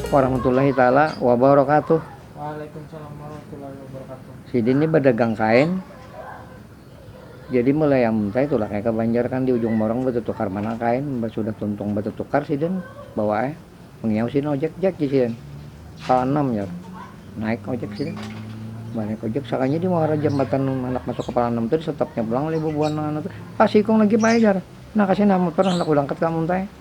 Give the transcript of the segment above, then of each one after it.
Warahmatullahi taala wabarakatuh. Waalaikumsalam warahmatullahi wabarakatuh. Sidin ni badagang kain, jadi mulai am saya tu lah kaya ke Banjar kan di ujung Morong batutukar mana kain, mbah sudah tuntung batutukar sidin bawa ai, mangiau sidin ojek, Jek jar sidin, ka anam jar, naik ojek sidin, mbah naik ojek sakalinya di muara jambatan handak masuk ka Pala Anam tu di stopnya pulang oleh bubuhan anu tu, Pak sikung lagi Pak ai jar, nah ka sini nah mutur handak ulangkat ka Amuntai.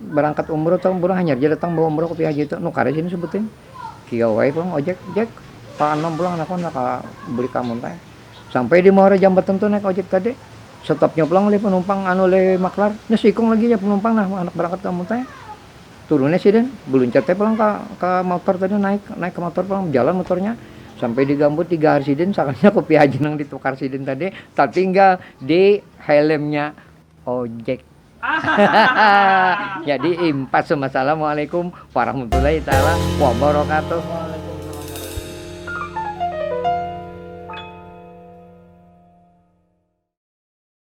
Barangkat umroh tahu pulang hanyar ja datang bawa umroh ke PHJ tu, nukar aja ni sebutin. Kiau ai pulang ojek, Jack, ka Anam pulang naka handak ka beli ka Amun Rai. Sampai di muara jambatan tu naik ojek tadi, stopnya pulang oleh panumpang anu oleh maklar, nah seikung lagi ja panumpang nah handak barangkat ka Amun Rai. Turun ai sidin, baluncat ai pulang ka ka motor tadi naik, naik ka motor pulang, bajalan motornya sampai di gambut di gahar sidin sakalinya kopi haji nang ditukar sidin tadi tatinggal di helmnya. ojek jadi impas assalamualaikum warahmatullahi taala wabarakatuh